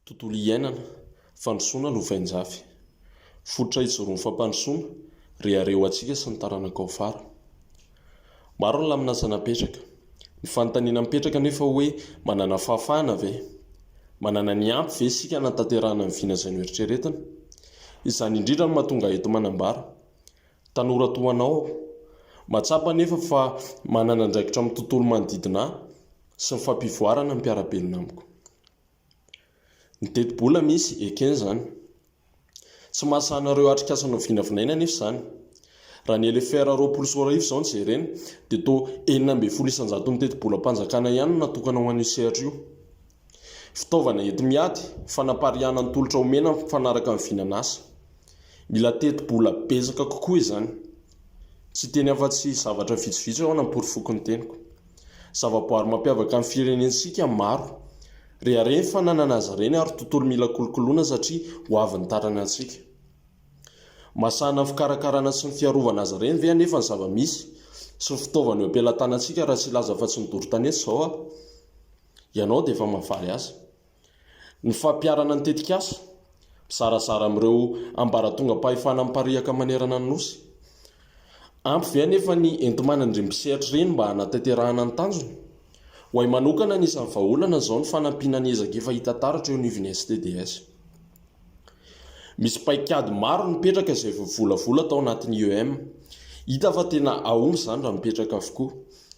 Tontolo iainana, fandrosoana no vainjafy. Fototra ijoroan'ny fampandrosoana, rehareha ho antsika sy ny taranaka ao afara. Maro ny laminasa napetraka. Ny fanontaniana mipetraka anefa hoe manana fahafahana ve? Manana ny ampy ve isika hanatanterahana ny vina izay noeritreretina? Izany indrindra no mahatonga ahy eto manambara. Tanora toa anao aho. Mahatsapa anefa fa manana andraikitra amin'ny tontolo manodidina ahy sy ny fampivoarana ny mpiara-belona amiko. Ny tetibola misy, ekena izany. Tsy mahasahy ireo atrikasa novinavinaina anefa izany. Raha ny LFR roapolo sy roa arivo izao no jerena, dia toa enina ambin'ny folo isan-jaton'ny tetibolam-panjakana ihany no natokana ho an'io sehatra io. Fitaovana enti-miady, fanapariahana ny tolotra omena mifanaraka amin'ny vinan'asa. Mila teti-bola betsaka kokoa izany. Tsy hiteny afa-tsy zavatra vitsivitsy aho hanampory foko ny teniko. Zavaboary mampiavaka ny firenentsika maro. Rehareha ny fananana azy ireny ary tontolo mila kolokoloina satria ho avy ny taranantsika. Mahasahana ny fikarakarana sy ny fiarovana azy ireny ve anefa ny zava-misy sy ny fitaovana eo am-pelatanantsika raha tsy hilaza afa-tsy ny doro tanety izao aho? Ianao dia efa mahavaly azy. Ny fampiharana ny tetikasa, Mizarazara amin'ireo ambaratongam-pahefana mipariaka manerana ny Nosy. Ampy ve anefa ny enti-manan'ireny mpisehatra ireny mba hanatanterahana ny tanjona? Ho ahy manokana, anisan'ny vahaolana izao ny fanampiana ny ezaka efa hita taratra eo anivon'ny STDS. Misy paikady maro nipetraka izay voavolavola tao anatin'ny IEM. Hita fa tena aomby izany raha mipetraka avokoa.